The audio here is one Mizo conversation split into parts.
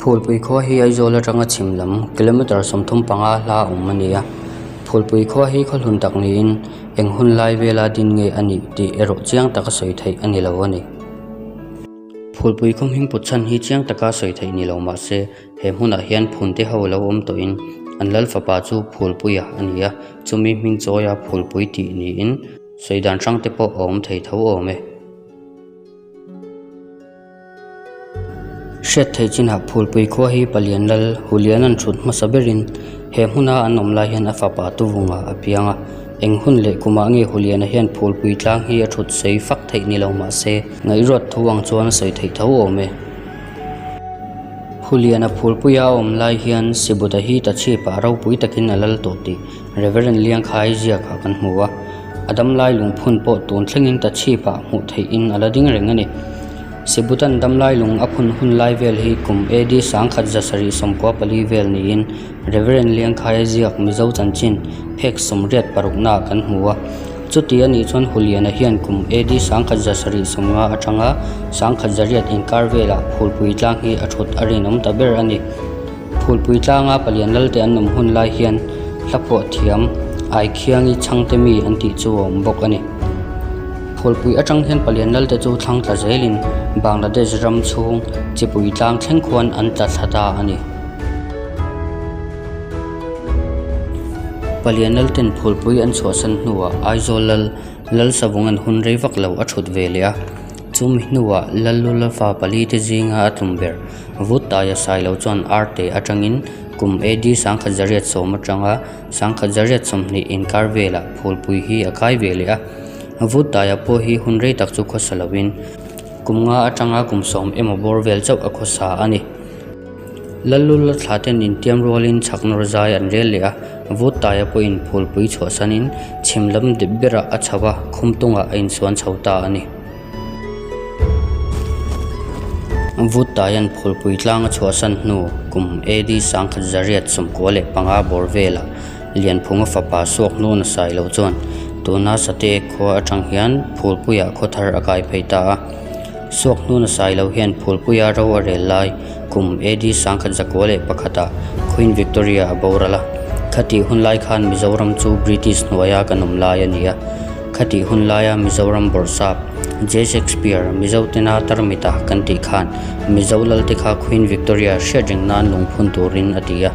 Phulpui khua hi Aizawl atanga chhim lam kilometre sawmthum panga hla awm a ni a. Phulpui khua hi khawhlun tak niin eng hun lai vela din nge a nih tih erawh chiang taka sawi theih a ni lo a ni. Phulpui khawmhing putchhan hi chiang taka sawi theih ni lo mahse He hmunah hian phunte ho lo awm tawhin an lal fapa chu Phulpuia a ni a, chumi hming chawia Phulpui tih niin sawi dan hrang te pawh a awm thei tho awm e. Hriat theih chinah Phulpui khua hi palian lal hulian an thut hmasa berin he hmuna an awm lai hian a fapa tuvunga a piang a. Eng hun leh kumah nge huliana hian Phulpui tlang hi a thut sawi fak theih ni lo mahse, ngaihruat thu ang chuan a sawi theih tho awm e. Khuliana phulpui a awm lai hian Sibuta hi ta chhip ah ropui takin a lal tawh tih Rev. Liangkhai ziak ah kan hmu a, a damlai lungphun pawh tun thlengin ta chhip ah hmuh theih in a la ding reng a ni. Sibutan damlai lung a phun hun lai vel hi kum AD sangkhat zasarih sawmpua pali vel niin, Rev. Liankhai a ziak Mizo chanchin phek sawmriat paruknaah kan hmu a. Chuti a nih chuan Huliana hian kum AD sangkhat za sarih sawmnga atanga sangkhat zariat inkar velah Phulpui tlang hi a thut a rinawm ta ber a ni. Phulpui tlanga palian lalte an awm hun lai hian Hlaphuah thiam, Aikhiangi chhangte mi an tih chu a awm bawk a ni. Phulpui atang hian palian lalte chu thlang tla zelin Bangladesh ram chhung Chipui tlang thleng khuan an tla thla ta a ni. Palian Lalten phulpui an chhuahsan hnuah Aizawl Lal, Lal Savawng an hun rei vak lo a thut ve leh a. Chumi hnuah Lallu Lava pali te zinga a tlum ber. Vut taia sai lo chuan Arte atangin kum AD Sangkhat Zariat sawm atanga Sangkhat Zariat sawmhnih inkar velah phulpui hi a kai ve leh a. Vut taia pawh hi hun rei tak chu khawsa loin kum nga atanga kum sawm emaw bawr vel chauh a khawsa a ni. Lallu la thla ten intiam rualin chhak nawr zai an rel leh a, vut taia pawh inphulpui chhuahsanin chhim lam dip berah a chho a, khum tungah a insuan chho ta a ni. Vut taian phulpui tlanga chhuahsan hnu kum AD Sangkhat Zariat sumkua leh panga bawr velah Lianphunga fapa suak hnu nasai loh chuan tuna Sate khua atang hian phulpuiah khawthar a kai phei ta a, Suak hnun a sai lo hian Phulpui a ro a rel lai kum AD sangkhat zakua leh pakhatah Queen Victoria a boral a. Khatih hun lai khan Mizoram chu British hnuaia kan awm lai a ni a. Khatih hun laia Mizoram bawrhsap, J. Shakespeare, Mizotena tarmita kan tih khan Mizo lalte kha Queen Victoria hriat reng nan lungphun turin a ti a.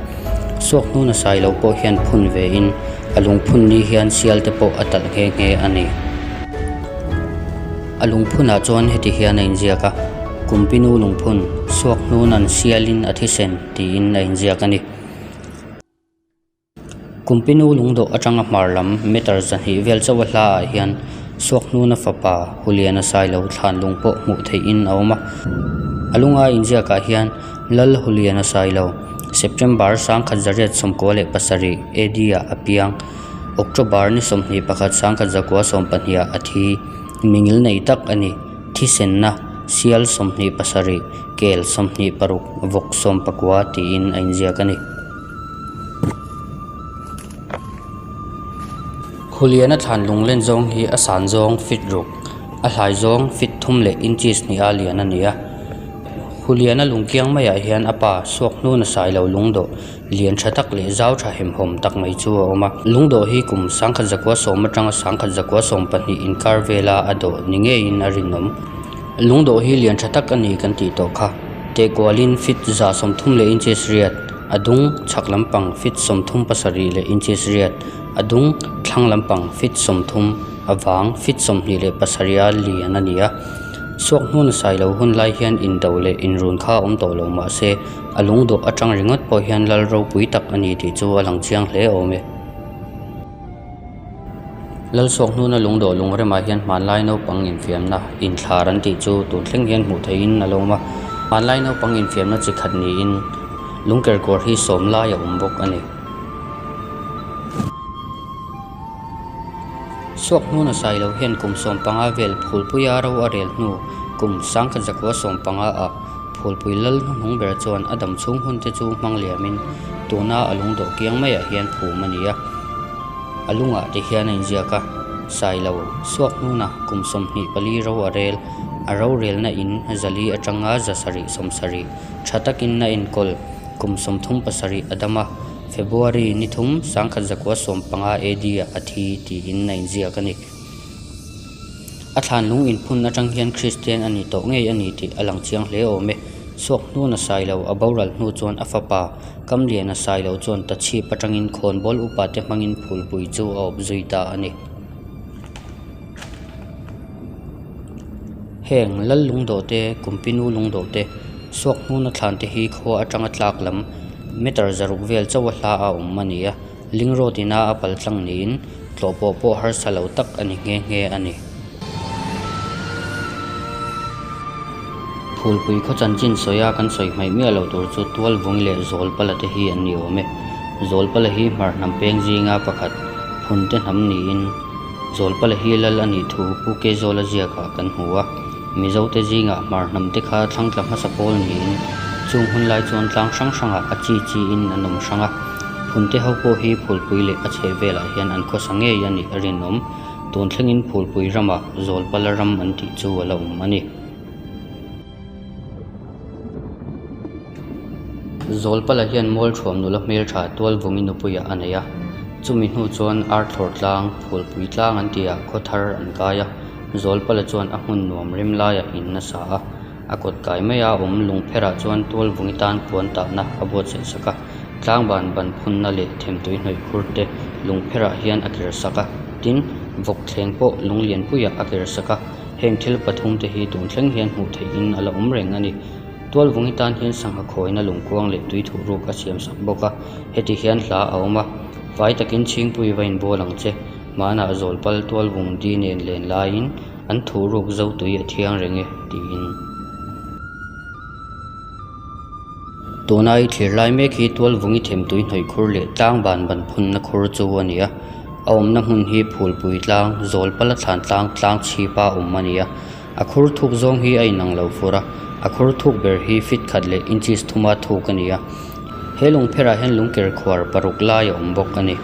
Suak hnun a sai lo pawh hian phun ve in a lungphun ni hian sialte pawh a talh nghe nghe a ni. A lungphunah chuan heti hian a inziak a, Kumpinu lungphun, suak hnun an sialin a thisen tiin a inziak a ni. Kumpinu lungdawh atanga hmar lam meter zahnih vel chauha hlaah hian suak hnuna fapa Huliana Sailo thlan lung pawh hmuh theihin a awm a. A lunga inziakah hian Lal Huliana Sailo, September sangkhat zariat sawmkua leh pasarih AD-ah a piang, October ni sawmhnih pakhat sangkhat zakua sawmpahniha a thi. Mingil nei tak a ni. Thisenna, Sial sawmhnih pasarih, kel sawmhnih paruk, vawk sawm pakua tiin a inziak a ni. Huliana thlan lunglen zawng hi a san zawng, fit ruk, a hlai zawng, fit thum leh inches hnih a lian a ni a. Huliana lungkiang maiah hian a pa Suakhnuna sailo lungdawh. lian tha tak leh zau tha hem hawm tak mai chu a awm a lung dawh hi kum sangkhat zakua sawm atanga sangkhat zakua sawm pahnih inkar vela a dawh ni ngeiin a rinawm lung dawh hi lian tha tak a ni kan tih tawh kha tehkualin fit za sawm thum leh inches riat a dung chhak lampang fit sawm thum pasarih leh inches riat a dung thlang lampang fit sawm thum a vang fit sawm hnih leh pasarih a lian a ni a chhuak hmun a sailo hun lai hian indo leh inrun kha a awm tawh lo mahse-- A lung dawh atang ringawt pawh hian lal ropui tak a ni tih chu a lang chiang hle awm e. Lalsawk hnuna lung dawh lung remah hian hmanlai naupang infiamna inthlar an tih chu tun thleng hian hmuh theihin a lo awm a. Hmanlai naupang infiamna chi khat niin lungker kawr hi sawm lai a awm bawk a ni. Chhuak hnu na sai lo hian kum sawm panga vel phulpui a ro a rel hnu, kum sangkhat zakua sawm panga a phulpui lal hnu hnung ber chuan a dam chhung hun te chu hmang liamin tuna a lung dawh kiang mai ah hian phum a ni a. A lungah te hian a inziak a, sai lo chhuak hnuna kum sawmhnih pali ro a rel, a ro relna in zali atanga za sarih sawm sarih tha takin a enkawl, kum sawmthum pasarih a dam a. February ni thum sangkhat zakua sawm panga AD-ah a thi tiin a inziak a ni. A thlanlung inphun atang hian Kristian a ni tawh ngei a ni tih a lang chiang hle awm e. Suakhnun a sai lo, a boral hnu chuan a fapa, Kamlian a sai lo chuan ta chhip atangin Khawnbawl upate hmangin phulpui chu a awp zui ta a ni. Heng Lal Lungdote, Kumpinu Lungdote, Suak Hnuna thlan te hi khua atanga tlak lam meter zaruk vel chauh a hla a awm a ni a, Ling Road ina a pal tlang niin tlawh pawh pawh harsa lo tak a ni nghe nghe a ni. Phulpui khaw chanchin sawi a kan sawi hmaih miah loh tur chu Tualvawng leh Zawlpala te hi an ni awm e. Zawlpala hi hmar hnam peng zinga pakhat phun te hnam niin, Zawlpala hi lal a nih thu Pu Kei Zawla ziakah kan hmu a, Mizote zingah hmar hnam te kha thlangtla hmasa pawl niin chung hun lai chuan tlang hrang hrangah a chi chiin an awm hrang a. Phun te ho pawh hi phulpui leh a chheh velah hian an khawsa ngei a nih a rinawm. Tun thlengin phulpui ramah Zawlpala ram an tih chu a la awm a ni. Zawlpala hian mawlthuam nula hmeltha tualvungi nupuiah a nei a, chumi hnu chuan arthlawr tlang, phulpui tlang an tia khawthar an kai a. Zawlpala chuan a hmun nuam rim laia in a sa a, a kawt kai mai a awm lung pherah chuan tualvungi tan puan tahna a buatsaih sak a. Tlangban ban phunna leh themtui hnawih khur te lung pherah hian a ker sak a, tin vawk thleng pawh lung lianpuiah a ker sak a. Heng thil pathum te hi tun thleng hian hmuh theih in a la awm reng a ni. Tual vung hi tan hian sangha khawina lungkuang leh tui thuh ruk a siam sak bawk a, heti hian hla a awm a, fai takin chhingpui va inbawl ang che. Hmanah zawlpal tual vung di nen len laiin an thuh ruk zo tui a thiang reng e, tiin. tuna i thlir lai mek hi tualvungi themtui hnawihkhur leh tlangban ban phunna khur chu a ni a a awmna hmun hi phulpui tlang zawlpala thlan tlang tlang chhipa awm a ni a a khur thuk zawng hi a inang lo fur a a khur thuk ber hi fit khat leh inches thuma thuk a ni a he lawng pherah hian lung ker khuar paruk lai a awm bawk a ni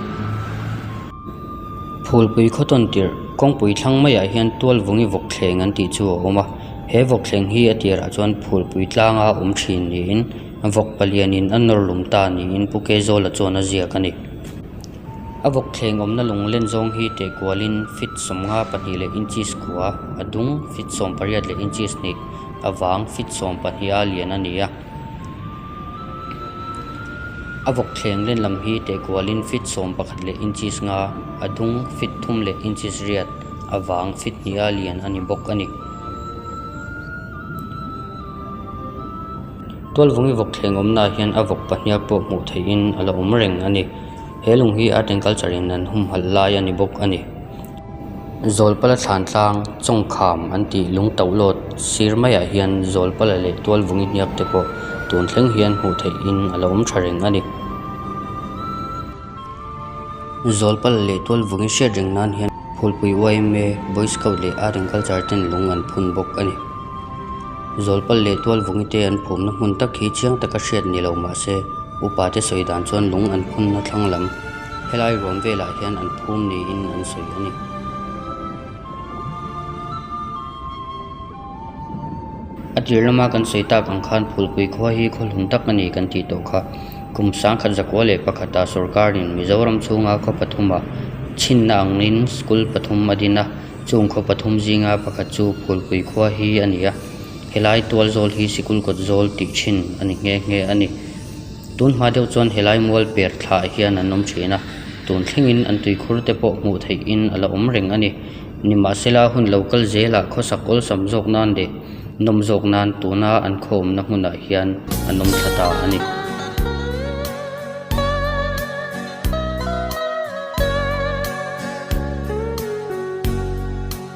phulpui khawtawn tirh kawngpui thlang maiah hian tualvungi vawk thleng an tih chu a awm a. he vawk thleng hi a tirah chuan phul pui tlanga awm thin niin vawk palian in a nawr lum ta niin pu Kaizawl-a chuan a ziak a ni. A vawk thleng awmna lunglen zawng hi tehkualin feet sawmnga pahnih leh inches kua, a dung, feet sawmpariat leh inches hnih, a vang, feet sawmpahniha lian a ni a. A vawk thleng len lam hi tehkual in feet sawm pakhat leh inches nga, a dung feet thum leh inches riat, a vang feet hnih a lian a ni bawk a ni. Tualvungi vawk thleng awmna ah hian a vawk pahniak pawh hmuh theih in a lo awm reng a ni. He lung hi Art and Culture in an humhalh lai a ni bawk a ni. Zawlpala thlan tlang, chawngkham an tih lung tauh lawt sir maiah hian Zawlpala leh Tualvung i hniap te pawh tun thleng hian hmuh theih in a lo awm tha reng a ni. Zawlpala leh Tualvung i hriat reng nan hian Phulpui YMA, Boy Scout leh Areng Culture ten lung an phun bawk a ni. Zawlpala leh Tualvung i te an phumna hmun tak hi chiang taka hriat ni lo mah se, upa te sawi dan chuan lung an phunna thlang lam, Helai ruam velah hian an phum niin an sawi a ni. A tir lama kan sawi tak ang khan Phulpui khua hi khawhlun tak a ni kan tih tawh kha. Kum sangkhat zakua leh pakhatah sawrkarin Mizoram chhunga khaw pathuma chhinna angin school pathum a din a, chung khaw pathum zinga pakhat chu Phulpui khua hi a ni a. Helai tual zawl hi sikul kawt zawl tih thin a ni nghe nghe a ni. Tun hma deuh chuan he lai mual per thla ah hian an awm thin a, tun thlengin an tui khur te pawh hmuh theihin a la awm reng a ni. Ni mah se la hun lo kal zel ah khawsak awlsam zawk nan leh nawm zawk nan tun a an khawmna hmun ah hian an awm thla ta a ni.